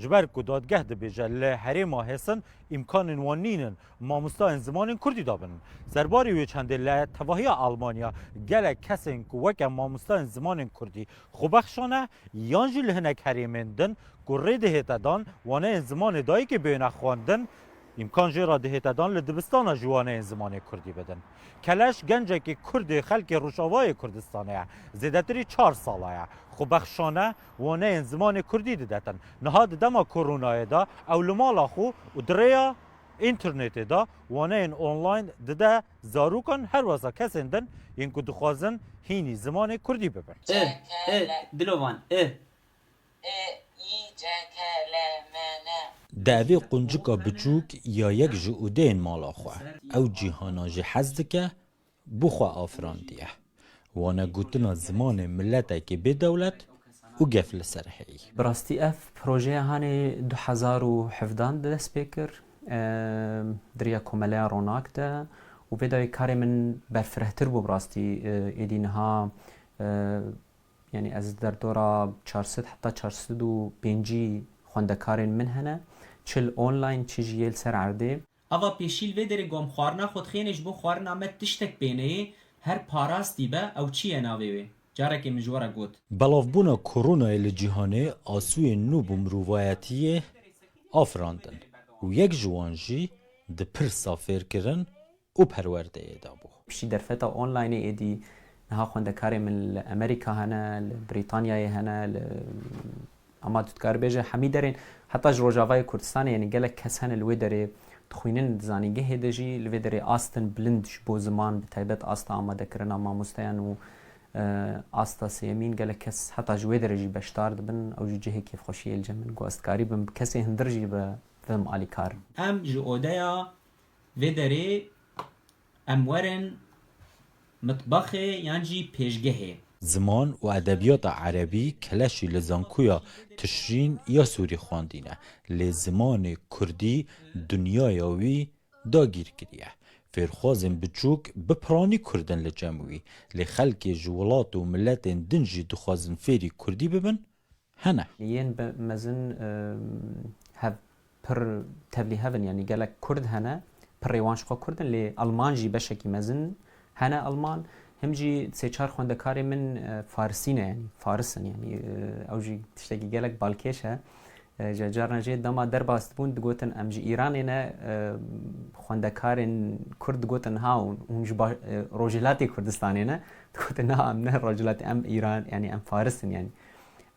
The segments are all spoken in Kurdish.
Ji ber ku dadgeh dibêje li herêma Hêsin îmkanên wan nîn in mamostayên zimanên kurdî dabin. Ser barî wê çendê li tevahiya Elmanya gelek kesên ku weke mamostayên zimanên kurdî xwebexşan e yan jî li hinek herêmên din ku rê dihête dan waneyên zimanê dayikê bêyne xwendin îmkan jê re dihête dan li dibistana jî waneyên zimanê kurdî bidin. Keleş gencekî kurdê xelkê Rojavayê Kurdistanê ye. Zêdetirî çar sala ye. Xwebexşan e. waneyên zimanê kurdî didetin. Niha di dema koronayê de ew li mala xwe û di rêya înternetê de waneyên online dide zarokan her weza kesên din yên ku dixwazin hînî zimanê kurdî bibin. I, i, dilo van, i. I, i, ce, ke, le, me, ne. Dievê quncika biçûk ya yek ji ûdeyên mala xwe, ew cîhana jî hez dike, Bo xwe afirandiye. Wane gotina zimanê miletekî bê dewlet û gef li ser heyî. Bi rastî ev projeya hanê du hezar û hevdan de dest pê kir di riya Komeleya Ronak de û vê dawî karê min berfirehtir bû bi rastî êdî niha yanî ez li derdora çar sed heta çar sed û pêncî xwendekarên min hene çi li online çi jî yê li ser erdê. Ava pêşî li vê derê gom xwarina xwedxênê ji bo xwarina me tiştek pêneyê, her parastî be ew çi ye navê wê? Carekê min ji we re got. Belavbûna koronayê li cîhanê asûyên nû bo mirovayetiyê afirandin û yek ji wan jî di pirsa fêrkirin û perwerdeyê de bû. Piştî derfeta onlaynê êdî niha xwendekarên min li Emerîka hene, li Brîtanyayê hene, li Hema tu dikarî bêje hemî derên heta ji Rojavayê Kurdistanê yanî gelek kes hene li wê derê dixwînin di zanîngehê de jî li vê derê astin bilind ji bo ziman bi taybet asta amadekirina mamosteyan û asta sêyemîn gelek kes heta ji wê derê jî beşdar dibin ew jî cihê kêfxweşiyê li cem in ku ez dikarî bim bi kesên hundir jî bibim alîkar. Em ji odeya vê derê Em werin mitbaxê yan jî pêşgehê. Ziman û edebiyata erebî keleşî li Zankuya Tişrîn ya Sûrî xwendîne, lê zimanê kurdî dinyaya wî dagîr kiriye. Fêrxwazên biçûk bi piranî kurd in li cem wî, lê xelkê ji wilat û miletên din jî dixwazin fêrî kurdî bibin, hene. Yên bi mezin hev pir tevlî hev in yanî gelek kurd hene pirê wan ji xwe kurd in lê alman jî beşekî mezin hene alman him jî sê çar xwendekarê min farisî ne yanî faris in yanî ew jî tiştekî gelek balkêş e ji carna jê dema derbas dibûn digotin em ji Îranê ne xwendekarên kurd digotin ha hûn ji rojhilatê Kurdistanê ne Digotin na em ne rojhilatî em îran yanî em faris in yanî.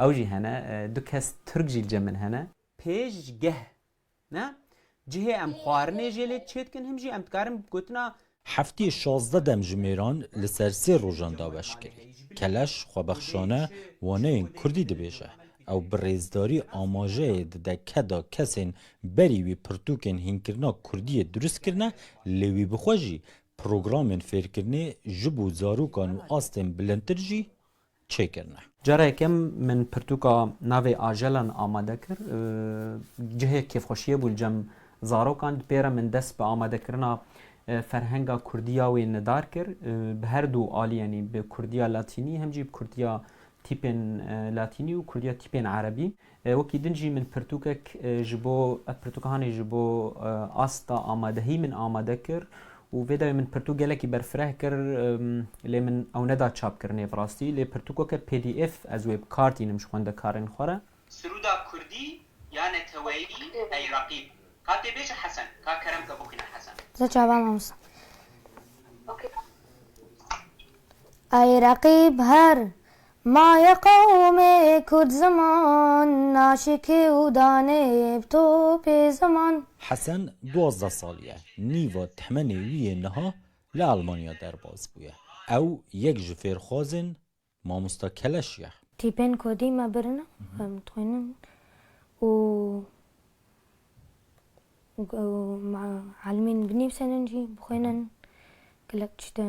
Ew jî hene du kes tirk jî li cem min hene. Pêşgeh ne cihê em xwarinê jê lê çê dikin him jî em dikarin gotina. Heftê şazdeh dem ji mêran li ser sê rojan daweş kirî. Keleş xwebexşane waneyên kurdî dibêje. Ew bi rêzdarî amajeyê dide ke da kesên berî wî pirtûkên hînkirina kurdiyê dirust kirine lê wî bi xwe jî Programên fêrkirinê ji bo zarokan û astên bilindtir jî çêkirine. Cara yekem min pirtûka navê ajelan amade kir. Cihê kêfxweşiyê bû li cem zarokan. Di pê re min dest bi amadekirina ferhenga kurdî ya wê nidar kir. Bi her du alî yanî bi kurdiya latînî hem jî bi kurdiya tîpên latînî û kurdiya tîpên erebî. Wekî din jî min pirtûkek ji bo ev pirtûkhanê ji bo asta amadehî min amade kir û vê dawî min pirtûk gelekî berfireh kir lê min ew neda çapkirinê bi rastî lê pirtûkeke pdf ez wê bikar tînim ji xwendekarên xwe re. Siruda kurdî ya neteweyî ey reqîb. Ka tê bêje Hesen. Ka kerem ke bixwîne Hesen. Za çava mamosta. Ey reqîb her Ma ye qewmê kurd ziman naşikê û danê bi topê ziman. Hesen duwazdeh sal ye, nîva tehmenê wî yê niha li Elmanya derbas bûye. Ew yek ji fêrxwazên Mamosta Keleş ye. Tîpên kurdî me birin e, em dixwînin û me elmîn binivîsînin jî, bixwînin gelek tişt e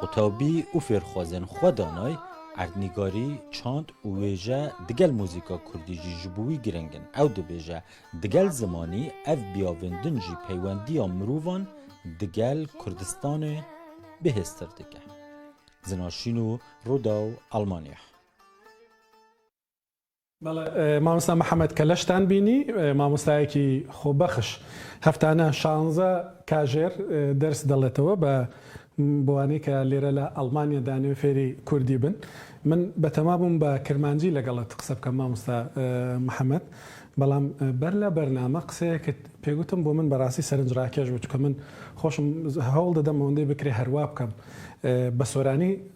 Qutabî û fêrxwazên xwe danay, erdnîgarî, çand û wêje digel muzîka kurdî jî ji bo wî girîng in. Ew dibêje, Digel zimanî ev biyavên din jî peywendiya mirovan digel Kurdistanê bihêztir dike. Zinaşîno, Rudaw, Almanya. Mamosta Mihemed Keleş ten bînî, mamostayekî xwebexş. Heftane şanze kajêr ders deletewe be bi wanê ke lêre li Elmanya danê fêrî kurdî bin. Min betema bûm be kirmancî legel it qise bikim mamosta Mihemed. Belam ber le bername qiseyekî pê gotim bo min be rastî serincrakeş bû. Çunke min xweşim hewl didim wendê bikirê herwa bikim. Be soranî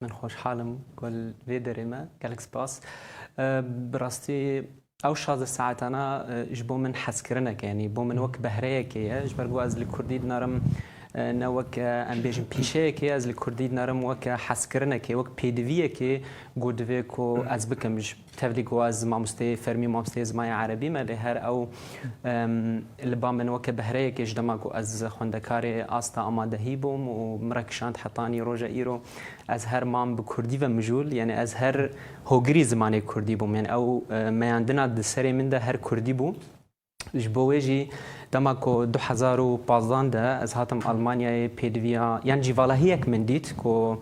Min xweşhal im ku li vê derê me. Gelek spas. Bi rastî ew şazdeh saetana ji bo min hezkirineke yanî bo min wek behreyekê ye ji ber ku ez li kurdî dinarim ne wek em bêjin pîşeyekê ez li kurdî dinarim wek hezkirinekê wek pêdiviyekê ku divê ku ez bikim ji Tevlî ku ez mamosteyê fermî û mamosteyê zimanê erebî me lê her ew li ba min weke behreyekê ji dema ku ez xwendekarê asta amadehî bûm û min re kişand hetanî roja îro ez her mam bi kurdî ve mijûl yanî ez her hogirî zimanê kurdî bûm yanî ew meyandina di serê min de her kurdî bû. Ji bo wê jî dema ku du hezar û pazdeh de ez hatim Almanyayê pêdiviya yan jî vala hiyek min dît ku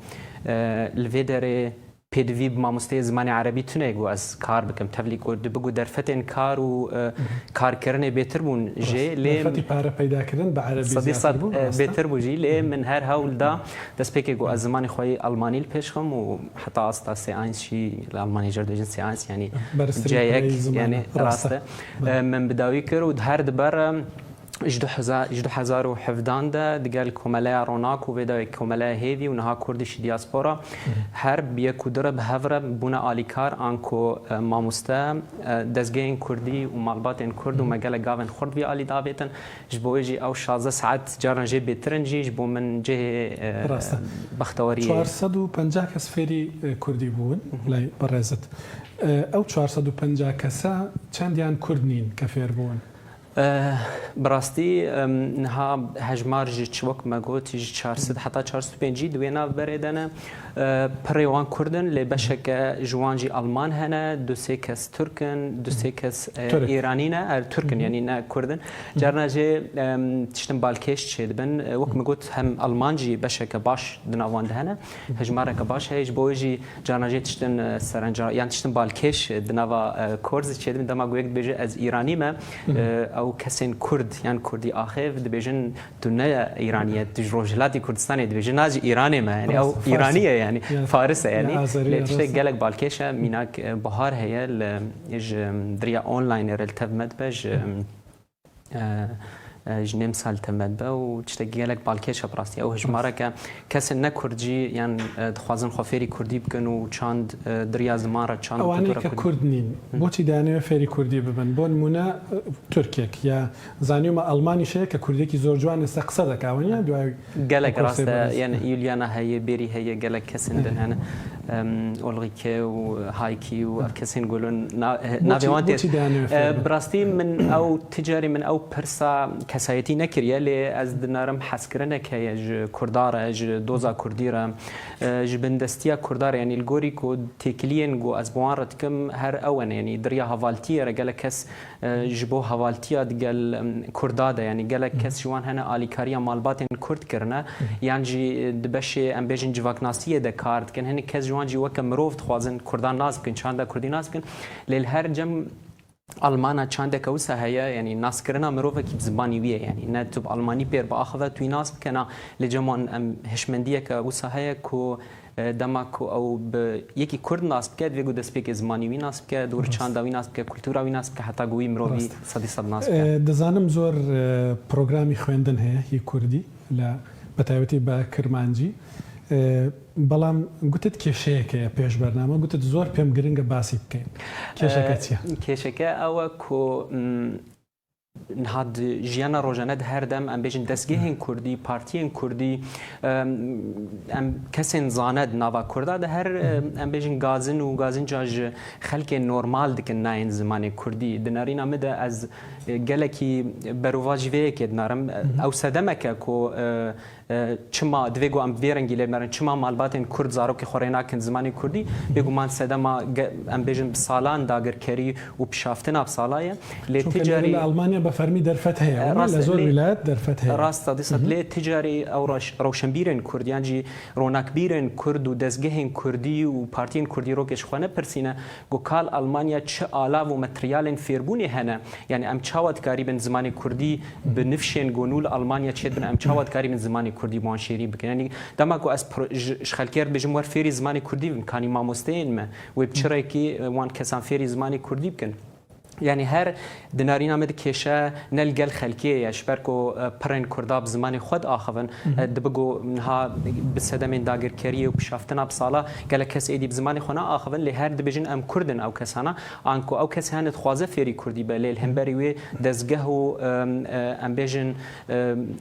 li vê derê pêdivî bi mamosteyê zimanê erebî tune ku ez kar bikim. Tevlî ku dibi ku derfetên kar û karkirinê bêtir bûn jê lê Derfetî pare peydakirin bi erebî sedî zêdetir sed bû rast e? bêtir bû jî lê min her hewl da destpêkê ku ez zimanê xwe yê Almanî li pêş xim û heta asta C1 jî li Almanyayê jê re dibêjin C1 yanî Berztirîn C1 pireyê zimane. yanî Rast rast e. e. Min bi dawî kir û di her di ber ji du hezar ji du hezar û hevdan de di gel Komeleya Ronak û vê dawê Komeleya Hêvî û niha Kurdîş Diaspora her bi yek û du re bi hev re bûne alîkar an ku mamoste, dezgehên Kurdî û malbatên Kurd û me gelek gavên xurt vî alî davêtin. Ji bo wê jî ew şazdeh saet caran jê bêtir in jî ji bo min cihê bextewariyê ye. Çar sed û pencah kes fêrî kurdî bûn lay berêzit. Ew çar sed û pencah kesa çendiyan kurd nîn ke fêr bûn? Bi rastî niha hejmar ji çi wek me got ji çar sed heta çar sed û pêncî di wê navberê de ne. Pirê wan kurd in lê beşeke ji wan jî alman hene, du sê kes turk in, du sê kes îranî ne, er turk in yanî ne kurd in. Carna jî tiştin balkêş çêdibin. Wek min got hem Alman jî beşeke baş di navan de hene. Hejmareke baş heye ji bo wê jî carna jê tiştin serenca yan tiştin balkêş di nava kor zî çêdibin. Dema ku yek dibêje ez îranî me ew kesên kurd yan kurdî axêv dibêjin Tu ne Îranî ye, tu ji Rojhilatê Kurdistanê dibêjî, na ji Îranê me yanî ew Îranî ye yanî Faris e yanî. Lê tiştek gelek balkêş e mînak Bihar heye li ji diriya onlaynê re li tev me dibe ji ji Nêmsa li tev me dibe û tiştek gelek balkêş e bi rastî. Ew hejmareke kesên ne Kurd jî yan dixwazin xwe fêrî Kurdî bikin û çand diriya ziman re çand. Ewanê ke Kurd nîn boçî dayane wê fêrî Kurdî bibin? Bo nimûne Tirkek ya Zaniyo me Elmanî şêyeke kurdekî zor ciwan lêse qise deke eweniye duwayê Gelek rast e yen Yuliana heye bêrî heye gelek kesên din hene Ulrike û Haykî û ev kesên gulin navê wan tê bi rastî min ew ti carî min ew pirsa kesayetî nekiriye lê ez dinarim hezkirinek heye ji kurda re ji doza kurdî re ji bindestiya kurda re yanî li gorî ku têkiliyên ku ez bi wan re dikim her ewene yanî diriya hevaltiyê re gelek kes Ji bo hevaltiya di gel Kurda de yanî gelek kes ji wan hene alîkariya malbatên Kurd kirine yan jî di beşê em bêjin civaknasiyê de kar dikin. Hinek kes ji wan jî weke mirov dixwazin Kurdan nas bikin, çanda Kurdî nas bikin. Lê li her cem Almana çandeke wisa heye yanî naskirina mirovekî bi zibanî wî ye. Yanî ne tu bi almanî pêr biaxive tu wî nas bike na. Lê cem wan em hişmendiyeke wisa heye ku Dema ku ew bi yekî Kurd nas bike, divê ku destpêkê zimanî wî nas bike, dûr çanda wî nas bike, kultura wî nas bike heta ku wî mirovî sedî sed nas bike. Dizanim zor programî xwendin heye yê Kurdî la bi taybetî bi Kirmancî. Belam gutit kêşeyek heye pêş bername, gutit zor pêm giringe basî bikeyn. Kêşeke çi ye? Kêşeke ew e ku Niha di jiyana rojane de her dem em bêjin destgehên Kurdî, partiyên Kurdî em kesên zane di nava Kurda de her em bêjin gazin û gazinca ji xelkê normal dikin nayên zimanê Kurdî. Di nerîna min de ez gelekî berovajî vê yekê dinarim. Ew sedemeke ku Çima divê ku em bi vê rengî lêv nerin? Çima malbatên Kurd zarokê xwe rê nakin zimanê Kurdî? Bêguman sedema em bêjin bi salan dagirkerî û pişaftina bi sala ye. Lê ti carî. Lê li Elmanya bi fermî derfet heye. Rast e. Li zor wîlayet derfet heye. Rast e. Dî sed. Lê ti carî ew rewşenbîrên Kurd yan jî ronakbîrên Kurd û dezgehên Kurdî û partiyên Kurdîrokê ji xwe nepirsîne Ku kal Almanya çi alav û materyalên fêrbûnê hene, yanî em çawa dikarîbin zimanê kurdî bi nifşên gonû li Almanya çêdibin, em çawa dikarîbin zimanê kurdî bi wan şêrî bikin. Yanî dema ku ez ji xelkê re dibêjim wer fêrî zimanê kurdî bibin, kanî mamosteyên me wê bi çi rêkê wan kesan fêrî zimanê kurdî bikin? Yanî her dinarîna me dikêşe ne li gel xelkê ye ji ber ku pirên Kurda bi zimanê xwe diaxivin. Dibi ku niha bi sedemên dagirkeriyê û pişaftina bi sala gelek kes êdî bi zimanê xwe naaxivin lê her dibêjin em Kurd in ew kesana. Anku ew kes hene dixwaze fêrî Kurdî be lê li hemberî wê dezgeh û em bêjin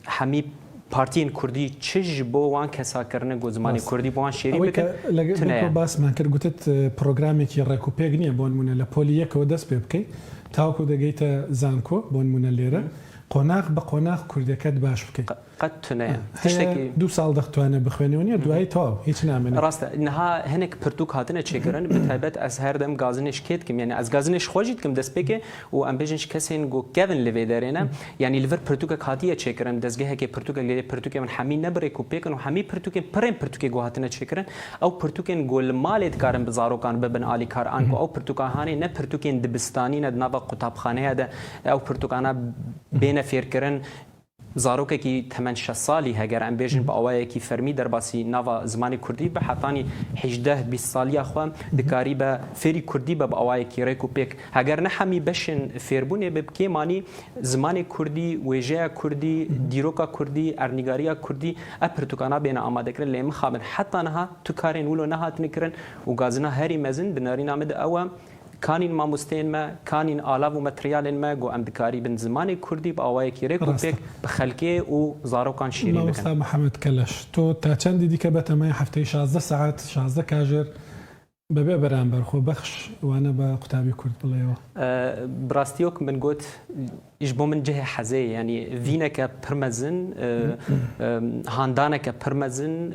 hemî Partiyên Kurdî çi ji bo wan kesa kirine ku zimanê Kurdî bi wan şêrîn bikin, tune ye. Basman kir gotit programekî rêk û pêk niye bo nimûne li polî yekê we dest pê bikey tawa ku digihîte zanko bo nimûne lêre qonax bi qonax Kurdeke di baş bikey. Qet tune ye. Heye du sal dixtwane bixwêne û niye duwayî taw hîç namene. Rast e. Niha hinek pirtûk hatine çêkirin bi taybet ez her dem gazinê ji kê dikim yanî ez gazinê ji xwe jî dikim dest pê ke Û em bêjin ji kesên ku kevin li vê derê ne, yanî li vir pirtûkek hatiye çêkirin, dezgehekê pirtûkek lê pirtûkên min hemî ne bi rêk û pêk in û hemî pirtûkên pirên pirtûkê ku hatine çêkirin, ew pirtûkên ku li malê dikarin bi zarokan bibin alîkar an ku ew pirtûkahanê ne pirtûkên dibistanî ne di nava qutabxaneya de ew pirtûkana bêne fêrkirin, Zarokekî temen şeş salî heger em bêjin bi awayekî fermî derbasî nava zimanê kurdî be, hetanî hîjdeh bîst saliya xwe dikarî be fêrî kurdî be bi awayekî rêk û pêk. Heger ne hemî beşên fêrbûnê bi bi kêm anî zimanê kurdî, wêjeya kurdî, dîroka kurdî, erdnîgariya kurdî ev pirtûkana bêne amadekirin. Lê mixabin heta niha tu karên wilo nehatine kirin û gazina herî mezin di nerîna min de ew e, Kanîn mamosteyên me, kanîn alav û materyalên me ku em dikarîbin zimanê kurdî bi awayekî rêk û pêk bi xelkê û zarokan şîrîn bikin. Mamosta Mihemed Keleş, to ta çendî dî ke bete me hefteyê şazdeh saet, şazdeh kajêr bi vê beramber xwe bexş wane be qutabî kurd bileyo? Bi rastî yok min got Ji bo min cihê hezê ye. Yanî vîneke pir mezin, handaneke pir mezin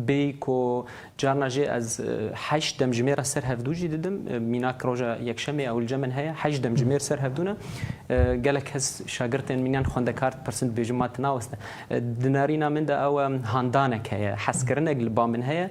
bê ku carna jê ez heşt demjimêra ser hevdû jî didim. Mînak roja yekşemê ewilce min heye. Heşt demjimêr ser hevdû ne. Gelek kes şagirtên min yan xwendekar dipirsin dibêjin ma tu naweste. Di nerîna min de ew e handanek heye. Hezkirinek li ba min heye.